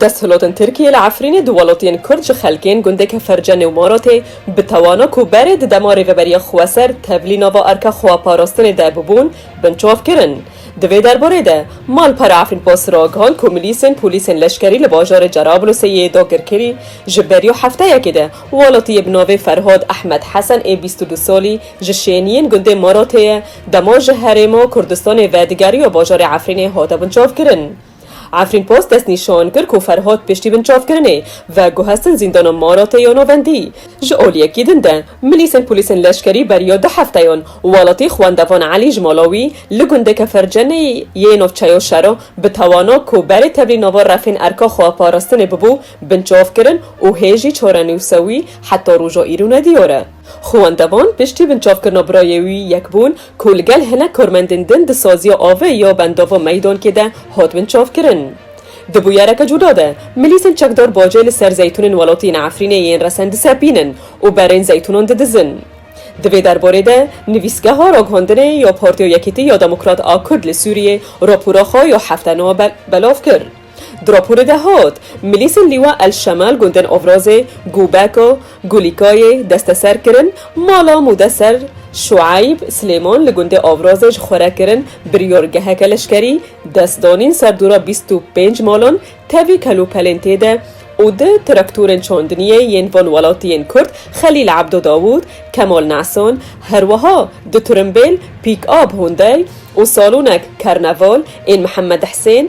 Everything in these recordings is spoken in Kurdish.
Desthilatên Tirkiyê li Efrînê di welatiyên Kurd ji xelkên gundê Keferce Newmaratê bi tawana ku berê di demarê Rêberiya Xweser tevlî nava erka xweparastinê de bûbûn, binçav kirin. Di vê derbarê de Malpera Efrînpost ragihand ku milîsên polîsên leşkerî li bajarê Cerablûsê yê dagirkerî ji beriya hefteyekê de welatiyê bi navê Ferhad Ehmed Hesen ê bîst û du salî Ji şêniyên gundê Morotê ye, demo ji herêmo Kurdistanê vedigerîyo bajarê Efrînê hate binçavkirin. Efrînpost destnîşan kir ku Ferhad piştî binçavkirinê veguhestin zîndana Morotê ya Navendî. Ji aliyekî din de milîsên polîsên leşkerî beriya du hefteyan welatî xwendevan Elî ji mala wî li gundê Kefercenê yê navçeya Şero bi tawana ku berê tevlî nava refên erka xweparastinê bibû binçavkirin û hê jî çarenûsa wî heta roja îro nediyar e. Xwe wendevan piştî binçavkirina birayê wî yek bûn ku li gel hinek karmendên din di saziya avê ya bendava Meydankê de hat binçavkirin. Di bûyereke cuda de milîsên çekdar bacê li ser zeytûnên welatê yên Efrînê yên resen disepînin û berên zeytûnan didizin. Di vê derbarê de nivîsgeha raghandinê ya Partiya Yekîtî ya Demokrat a Kurd li Sûriyê rapora xwe ya hefte nû belav kir. Di raporê de hat, milîsên Lîwa El Şemal gundên Owrozê, Gûbeko, Gulîkayê desteser kirin, mala Mudeser Şueyb Silêman li gundê Owrozê ji xwe re kirin, biryargeheke leşkerî dest danîn ser dûra bîst û pênc malan tevî kelûpelên tê de û du traktorên çandiniyê yên van welatiyên Kurd Xelîl Ebdo Dawûd, Kemal Nesan, herwiha du tirimbêl, pîk-ab Hyundai û salonek Karnaval ên Mihemed Hisên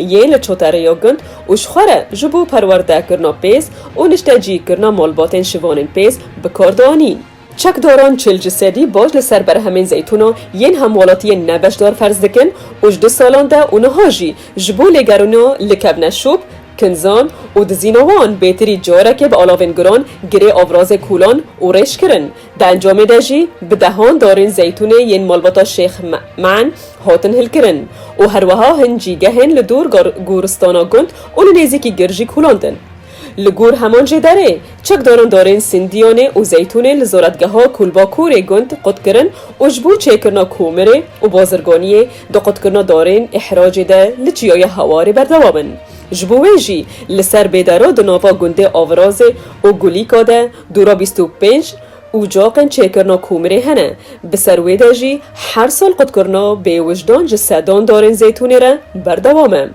yê li Çoterê yo gund û ji xwe re ji bo perwerde kirina pêz û niştecî kirina malbatên şivanên pêz bi kar dianîn. Çekdaran çil ji sedî baş li ser berhemên zeytûna yên hemwelatiyên ne beşdar ferz dikin û ji du salan de û niha jî ji bo lêgerûna likevne şop, kinzan û dizîna wan bêtirî carekê bi alavên guran girê avrazê kûlan û rêj kirin. Di encamê de jî bi dehan darên zeytûnê yên malbata Şêx Ma'n hatin hilkirin û herweha hin cîgehên li dûr goristana gund û li nêzîkî gir jî kûlandin. Li gor heman jê derê, çekdaran darên sindiyanê û zeytûnê li zoretgeha Kulbakurê gund qutkirin û ji bo çêkirina komirê û bazirganiyê di qutkirina darên îhracê de li çiyaya Hewarê berdewam in. Ji bo wê jî li ser bêdera di nava gundê Avirazê û Gulîka de Du ra bîst û pênc ucaqên çêkirina komirê hene, bi ser wê de jî her sal qutkirina bêwijdan ji sedan darên zeytûnê re berdewam e.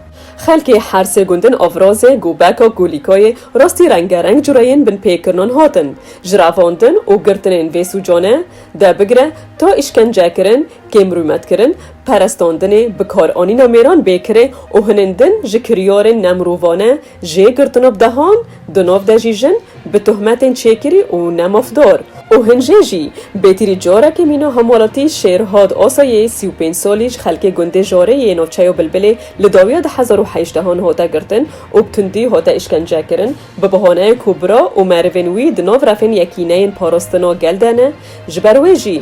Xelkê her sê gundên Avrazê, Gobeka, Gulîkayê rastî rengereng cureyên binpêkirinan hatin jirevandin û girtinên vê sûcane de bigire ta îşkencekirin, kêmrûmetkirin, perestandinê, bikaranîna mêran bêkirê û hinên din ji kiryarên nemirovane Jê girtino bi dehan, di nav de jî jin, bi tohmetên çêkirî û ne mafdar û hin jê jî, bêtîrî carekê mîna hemwelatî Şêrhad Asayê sî û pênc salî ji xelkê gundê Jarê yê navçeya Bilbilê li dawiya du hezar û heşt dehan hate girtin û bi tundî hate îşkence kirin bi bihaneyê ku bira û merivên wî di nav refên yekîneyên parastina gel de ne ji ber wê jî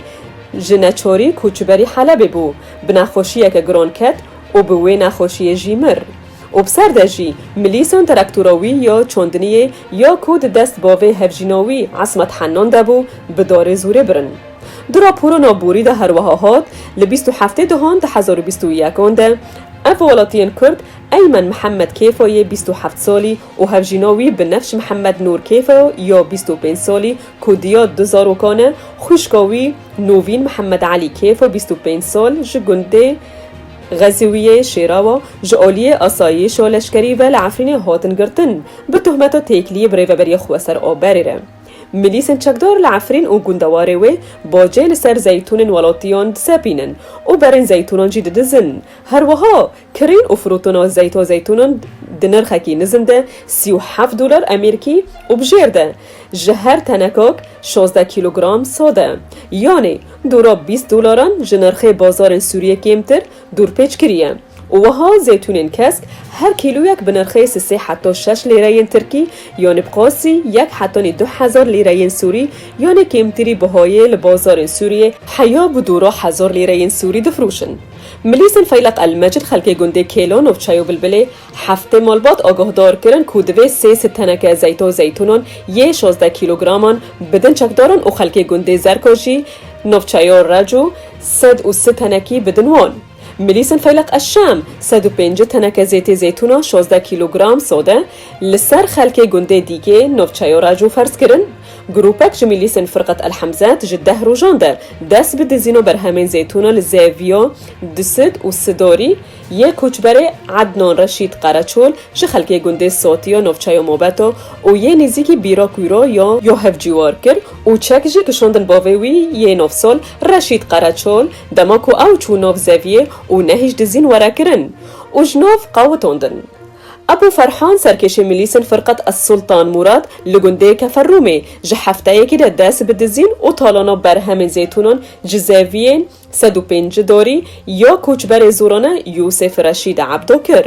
ji neçarî koçberî Helebê bû bi nexweşiyeke giran ket û bi wê nexweşiyê jî mir. Û bi ser de jî milîson teraktora wî ya çandiniyê ya ku di dest bavê hevjîna wî Esmet Hennan de bû, bi darê zûrê birin. Di raporana borî de her wiha hat, Li bîst û heftê dihan di hezar û bîst û yekan de ev welatiyên kurd Eymen Mihemed Kêfa yê bîst û heft salî û hevjîna wî Binefş Mihemed Nur Kêfa ya bîst û pênc salî ku diya du zarokan e, xwîşka wî Novîn Mihemed Elî Kêfa bîst û pênc sal ji gundê Xezûwiyê, Şêrawa, Ji aliyê asayîş û leşkerî ve li Efrînê hatin girtin, bi tohmeta têkiliyê bi rêveberiya xwe ser a berê re. Milîsên çekdar li Efrîn û gundewarê wê bacê li ser zeytûnên welatiyan disepînin û berên zeytûnan jî didizin. Her wiha kirîn û firotona zeyta zeytûnan di nirxekî nizin de sî û heft dolar emîrkî û bi jêr de ji her tenekak şazdeh kîlogram sade yanî Dûra bîst dolaran ji nirxê bazarên Sûriyê kêmtir dûrpêç kiriye û wiha zeytûnên kesk her kîloyek bi nirxê si sê heta şeş lîreyên tirkî yanê bi qasî yek hetanî du hezar lîreyên sûrî yanê kêmtirî bihayê li bazarên Sûriyê heya bi dûra hezar lîreyên sûrî difiroşin. Milîsên Feyleq El Mecid xelkê gundê Kêlo, Navçeyo Bilbilê, Heftê malbat agahdar kirin ku divê sê sed teneke zeyto zeytûnan yê şazdeh kîlograman bidin çekdaran û xelkê gundê Zerka jî navçeya Reco sed û si tenekî bidin wan. Milîsên Feyleq Eşşem sed û pêncî teneke zêtê zeytûnan şazdeh kîlogram sade li ser xelkê gundê Dîgê navçeya Reco ferz kirin. Grûpek ji Milîsên Firqet El Hemzet ji deh rojan der dest bi dizîna berhemên zeytûnan li Zevîya Disid û Sidarî, Yê koçberê Ednan Reşîd Qereçol ji xelkê gundê Sotî yo navçeyo Mobeto û yê nêzîkî Bîra Kûro yo yo hevcîwar kir û çek jî kişandin bavê wî yê navsal Reşîd Qereçol dema ku ew çû nav zeviyê û nehîşt dizîn were kirin û ji nav qawitandin. Ebû Ferhan serkêşê milîsên Firqet Es-Sultan Mûrad li gundê Keferrûmê ji hefteyekî de dest bi dizîn û talana berhemên zeytûnan ji zeviyê Sed û pênc dorî ya koçberê zorane Yûsêf Reşîd Ebdo kir.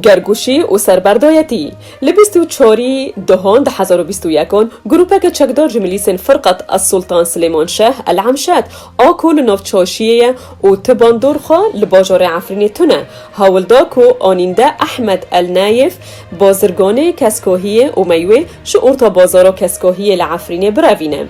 Gergûşî û serberdoyetî, Li bîst û çarî Duhan du hezar û bîst û yek an grûpeke çekdar ji milîsên Firqat Esultan Silêman Şeh El Emşet a ku li nav Çaşiyê ye û ti bandor xwe li bajarê Efrînê tune, hewl da ku anînde Ehmed El Nayef bazirganê Keskohiyê û meywe ji orta bazara Keskohiyê li Efrînê birevîne.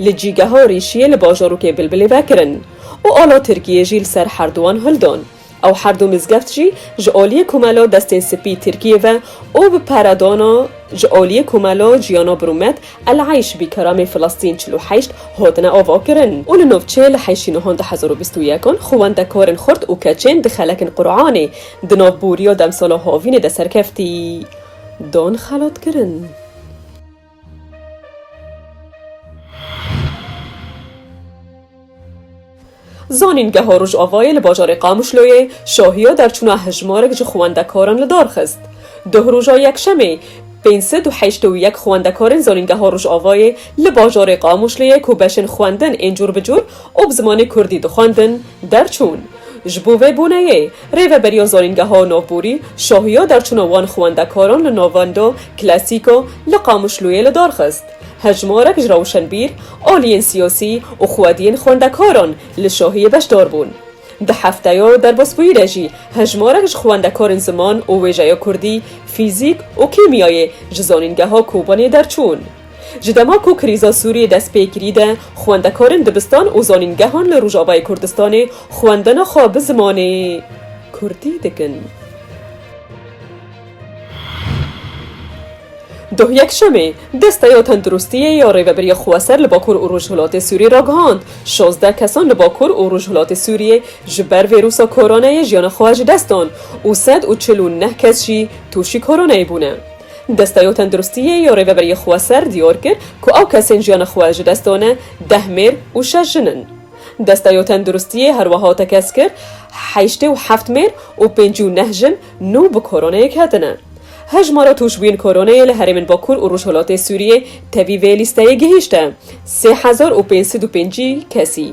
li cîgeha rîşiyê li bajarokê Bilbilê vekirin û ala Tirkiyê jî li ser herduwan hil dan. Ew herdu mizgeft jî ji aliyê Komela Destên Spî Tirkiyê ve û bi peredana ji aliyê Komela Ciyana Birûmet El Eyş Bi Keramê Filistîn çil û heşt hatine avakirin û li navçeyê li heştî nihan du hezar û bîst û yek an xwendekarên xurt û keçên di xelekên Quranê di nav boriya demsala havînê de serkeftî dan xelatkirin. Zanîngeha Rojavayê li bajarê Qamişloyê şahiya derçûna hejmarek ji xwendekaran li dar xist. Duh roja Yekşemê pênc sed û heşt û yek xwendekarên Zanîngeha Rojavayê li bajarê Qamişloyê ku beşên xwendin ên cûr bi cûr û bi zimanê Kurdî dixwendin, Derçûn. Ji bo vê boneyê, Rêveberiya Zanîngeha Navborî şahiya derçûna wan xwendekaran li navendo klasîko li Qamişlûyê li dar xist. Hejmarek ji rewşenbîr, aliyên siyasî û xwediyên xwendekaran li şahiyê beşdar bûn. Di hefteya derbasbûyî de jî hejmarek ji xwendekarên ziman û wêjeya kurdî, fîzîk û kîmyayê ji Zanîngeha Kobanê derçûn. Ji dema ku krîza Sûriyê dest pê kirî de xwendekarên dibistan û zanîngehan li Rojavayê Kurdistanê xwendina xwe bi zimanê Kurdî dikin. Doh Yekşemê, Desteya Tenduristiyê ya Rêveberiya Xweser li Bakur û Rojhilatê Sûriyê ragihand, şazdeh kesan li Bakur û Rojhilatê Sûriyê ji ber vêrûsa koronayê jiyana xwe ji dest dan û sed û çil û neh kes jî tûşî koronayê bûne. Desteyo Tenduristiyê yo Rêveberiyê Xweser diyar kir ku ew kesên jiyana xwe ji dest dane deh mêr û şeş jin in. Desteyo Tenduristiyê her wiha tekez kir heştê û heft mêr û pêncî û neh jin nû bi koroneyê ketine. Hejmara tûşbûyên koroneyê li herêmên Bakur û Rojhilatê Sûriyê tevî vê lîsteyê gihîşte sê hezar û pênc sed û pêncî kesî.